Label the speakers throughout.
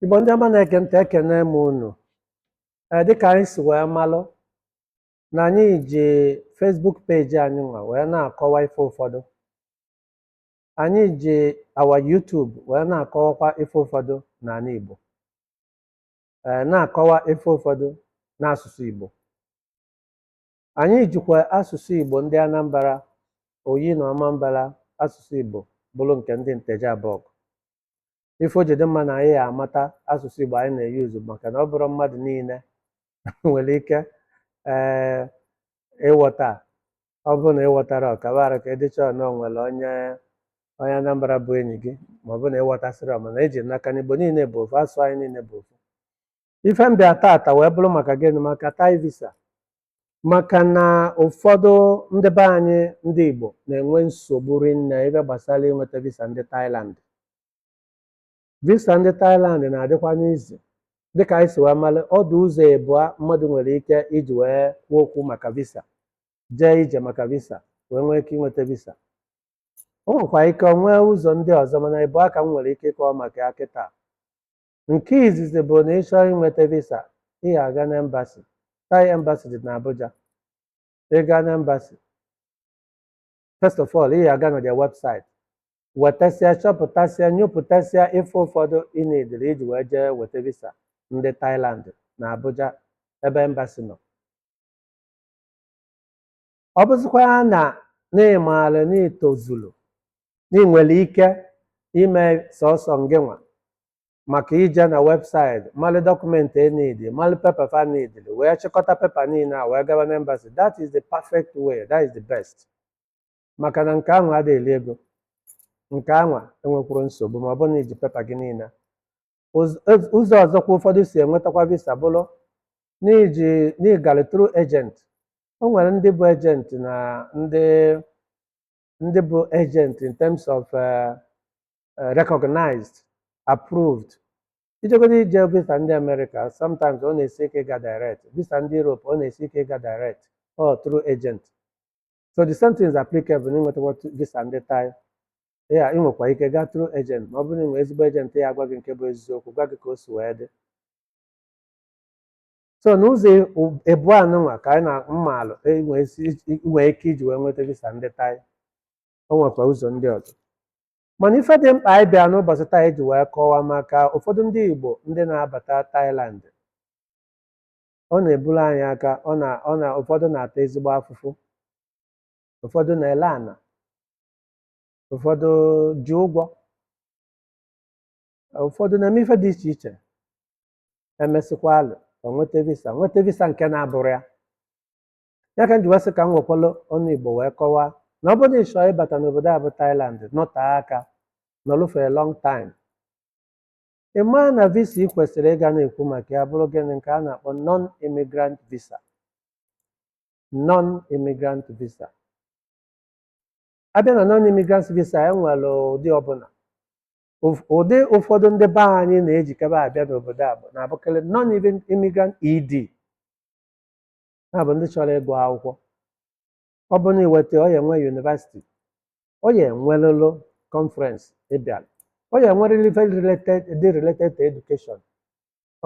Speaker 1: Igbo ndị ọma na-ege ntị ekene m unu ee dịka anyị si wee malụ na anyị ji Facebook peji anyị nwa wee na-akọwa ife ụfọdụ anyị ji our YouTube wee na-akọwakwa ife ụfọdụ n'ala Igbo ee na-akọwa ife ụfọdụ n'asụsụ Igbo anyị jikwa asụsụ Igbo ndị Anambra Oyi na Ọmambara asụsụ Igbo bụrụ nke ndị Nteje Abọgụ ife o ji dị mma na anyị ya-amata asụsụ Igbo anyị na-eyuzu maka na ọ bụrọ mmadụ niile nwere ike ee ịghọta ọ bụrụ na ịghọtara ọkabara ka ịdịcha na o nwere onye onye Anambra bụ enyi gị ma ọ bụ na ị ghọtasịrọ mana eji m n'aka na Igbo niile bụ ofu asụsụ anyị niile bụ ofu ife m bịa taata wee bụrụ maka gịnị maka Thai visa maka na ụfọdụ ndị be anyị ndị Igbo na-enwe nsogbu rinne ebe gbasara inweta visa ndị Thailand visa ndị Thailand na-adịkwanị easy dịka anyị si wee mara ọ dụ ụzọ ịbụa mmadụ nwere ike iji wee kwuo okwu maka visa jee ije maka visa wee nwee ike inweta visa o nwekwa ike nwee ụzọ ndị ọzọ mana ịbụa ka m nwere ike ịkọwa maka ya kịta Nke izizi bụ na ị chọọ inweta visa, ị ya-aga n'embasi. Thai embassy dị n'Abuja. Ị gaa n'embasi, first of all, ị ya-aga na their website, wetasịa, chọpụtasịa, nyopụtasịa ife ụfọdụ ị nidiri iji wee jee weta visa ndị Thailand na Abuja ebe embasi nọ. ọ bụzịkwa na na ị maara na ị tozuru na ị nwere ike ime sọsọ ngịnwa maka ije na website mara document e nidi mara pepa fa nidiri wee chịkọta pepa niile a wee gaba na embassy that is the perfect way that is the best maka na nke anwa ada-eli ego nke anwa enwekwurọ nsogbu ma ọ bụrụ na iji pepa gị niile Ụz- ụz- ụzọ ọzọkwa ụfọdụ si enwetakwa visa bụrụ n'iji n'ịgara through agent o nwere ndị bụ agent na ndị ndị bụ agent in terms of eh, eh, recognized approved ị chọgodo ije visa ndị America sometimes ọ na-esi ike ịga direct visa ndị Europe ọ na-esi ike ịga direct ọ through agent so the same thing is applicable na ịnwetakwa tu- visa ndị Thai ị nwekwa ike gaa through agent ma ọ bụrụ na ị nwee ezigbo agent ọ ya-agwa gị nke bụ eziokwu gwa gị ka o si wee dị so n'ụzọ e- u- ịbụa nụnwa ka anyị na mmalụ inwe isi- i- inwe ike iji wee nweta visa ndị Thai o nwekwa ụzọ ndị ọzọ mana ife dị mkpa anyị bịa n'ụbọsị taa iji wee kọwaa maka ụfọdụ ndị Igbo ndị na-abata Thailand ọ na-eburu anyị aka ọ na ọ na ụfọdụ na-ata ezigbo afụfụ ụfọdụ na-ele ana ụfọdụ ji ụgwọ ụfọdụ na-eme ife dị iche iche emesịkwalụ ọ nweta visa nweta visa nke na-abụrọ ya ya ka m ji wee sị ka m wekwalụ ọnụ igbo wee kọwaa na ọ bụrụ na ị chọọ ịbata n'obodo a bụ Thailand nọtee aka nọlụ for a long time Ị ma na visa ị kwesịrị ịga na-ekwu maka ya bụrụ gịnị nke a na-akpọ non-immigrant visa non-immigrant visa abịa na non-immigrant visa e nwere ụdị ọbụla Ụf- ụdị ụfọdụ ndị be anyị na-ejikebe abịa n'obodo a bụ na-abụkarị non-immigrant ED na-abụ ndị chọrọ ịgụ akwụkwọ ọ bụ na iweta ọ ya enwe university ọ ya enwelịlị conference ị bịalụ ọ ya enwerịrị ife related dị related to education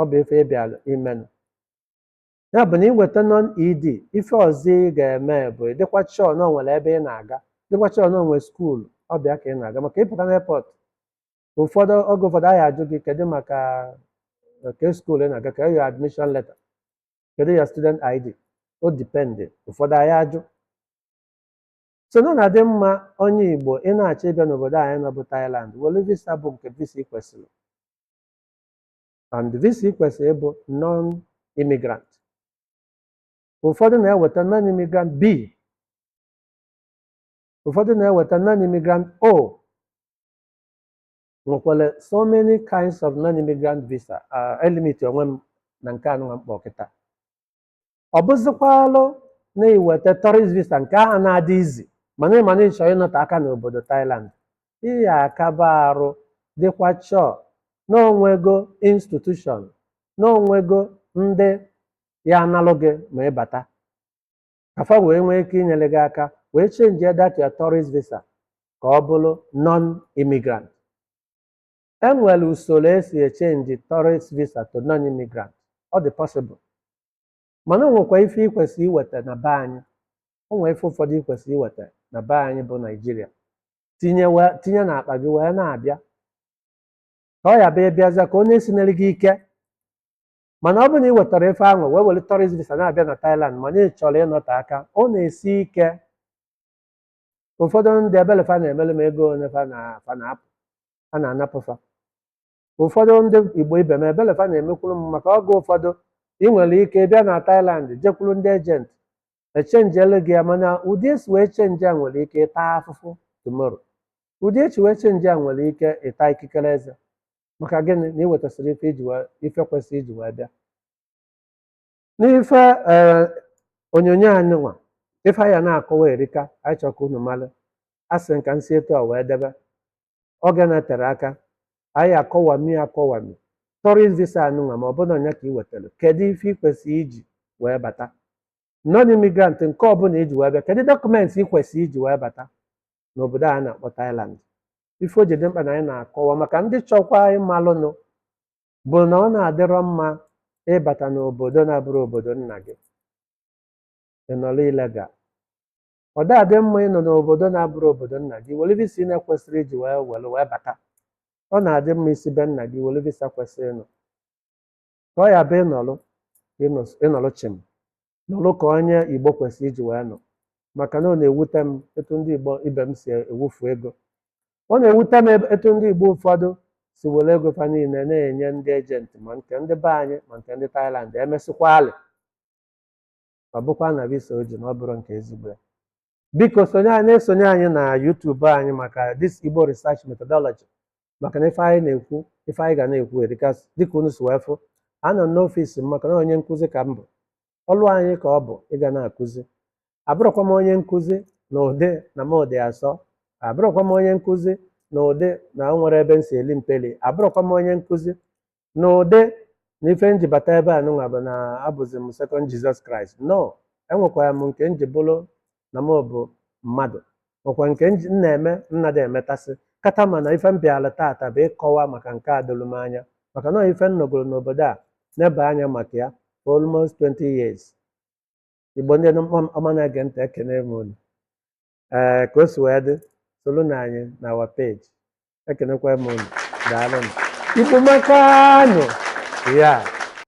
Speaker 1: ọ bụ ife ị bịalụ imenụ ya bụ na iweta non ed ife ọzọ ị ga-eme bụ ị dịkwa sure na o nwere ebe ị na-aga dịkwa sure na o nwere school ọ bụ ya ka ị na-aga maka ị pụta n'airport ụfọdụ oge ụfọdụ a ya-ajụ gị kedu maka nke school ị na-aga kee your admission letter kedu your student id ọ depend ụfọdụ a ya-ajụ so na ọ na-adị mma onye igbo ị na-achọ ịbịa n'obodo anyị nọ bụ Thailand were visa bụ nke visa ị kwesịrị and visa ị kwesịrị bụ non immigrant ụfọdụ na-eweta non immigrant b ụfọdụ na-eweta non immigrant o nwekwara so many kinds of non-immigrant visa elimit onwe m na nke anụnwa m kpọ kịta ọ bụzikwalụ na i weta tourist visa nke ahụ na-adị easy mana ị ma na ị chọrọ ịnọte aka n'obodo Thailand ị ya-akaba arụ dịkwa sure na o nwego institution na o nwego ndị ya-analụ gị ma ị bata ka fa wee nwee ike inyere gị aka wee chenjie that your tourist visa ka ọ bụrụ non-immigrant e nwere usoro e si echenji tourist visa to non-immigrant ọ dị possible mana o nwekwa ife ị kwesịrị iweta na be anyị o nwee ife ụfọdụ ị kwesịrị iweta na be anyị bụ Nigeria tinye wee tinye n'akpa gị wee na-abịa ka ọ ya-abụ ị bịaza ka onye sinere gị ike mana ọ bụrụ na ị wetarọ ife ahụ wee were tourist visa na-abịa na Thailand mana ị chọrọ ịnọte aka ọ na-esi ike ụfọdụ ndị ebele fa na-emele m ego ole fa na- fa na-apụ a na-anapụ fa ụfọdụ ndị Igbo ibe m ebele fa na-emekwuru m maka oge ụfọdụ ị nwere ike bịa na Thailand jekwuru ndị agent echenjielu gị ya mana ụdị e si wee chenji ya ị nwere ike ịta afụfụ tomorrow ụdị e si wee chenji ya ị nwere ike ịta ikikere eze maka gịnị na ị wetasịrị ife iji wee ife kwesịrị iji wee bịa n'ife ee onyonyo anyị nwa ife anyị a na-akọwa erika anyị chọrọ ka unu mara a sị m ka m si etu a wee debe oge na-eterọ aka anyị akọwami akọwami tourist visa anyị nwa ma ọ bụrụ ọnya ka ị wetara kedu ife ị kwesịrị iji wee bata non immigrant nke ọbụla iji wee bịa kedu document ị kwesịrị iji wee bata n'obodo a na-akpọ Thailand ife o ji dị mkpa na anyị na-akọwa maka ndị chọkwa ịmalụnụ bụ na ọ na-adịrọ mma ịbata n'obodo na-abụrọ obodo nna gị ịnọrọ illegal ọ da adị mma ịnọ n'obodo na-abụrọ obodo nna gị were visa ị na-ekwesịrọ iji wee were wee bata ọ na-adị mma ị si be nna gị were visa kwesịrị nọ ka ọ ya-abụ ịnọlụ ịnọs- ịnọlụ chịm nọlụ ka onye igbo kwesịrị iji wee nọ maka na ọ na-ewute m etu ndị igbo ibe m si ewufu ego ọ na-ewute m ebe- etu ndị igbo ụfọdụ si were ego fa niile na-enye ndị agent ma nke ndị be anyị ma nke ndị Thailand e mesịkwaalị ọ bụkwa na visa o ji na ọ bụrọ nke ezigbo ya biko sonye anyị na-esonye anyị na YouTube anyị maka this Igbo research methodology maka na ife anyị na-ekwu ife anyị ga na-ekwu erika dịka unu si wee fụ anọ n'ọfịs m maka na onye nkụzi ka m bụ ọlụ anyị ka ọ bụ ịga na-akụzi abụrọkwa m onye nkụzi na ụdị na m dị asọ abụrọkwa m onye nkụzi na ụdị na o nwerọ ebe m si eli mpeli abụrọkwa m onye nkụzi n'ụdị na ife m ji bata ebe a nụnwa bụ na abụzi m second Jesus Christ no enwekwara m nke m ji bụrụ na m bụ mmadụ nwekwa nke nji- m na-eme m na-adị emetasị kata ma na ife m bịara taata bụ ịkọwa maka nke a doro m anya maka na ife m nọgoro n'obodo a nebe anya maka ya for almost 20 years igbo ndị ọma ọma na-ege ntị ekene m unu ee ka o si wee dị soronụ anyị na our page ekenekwa m unu daalụnụ igbo amakanụ ya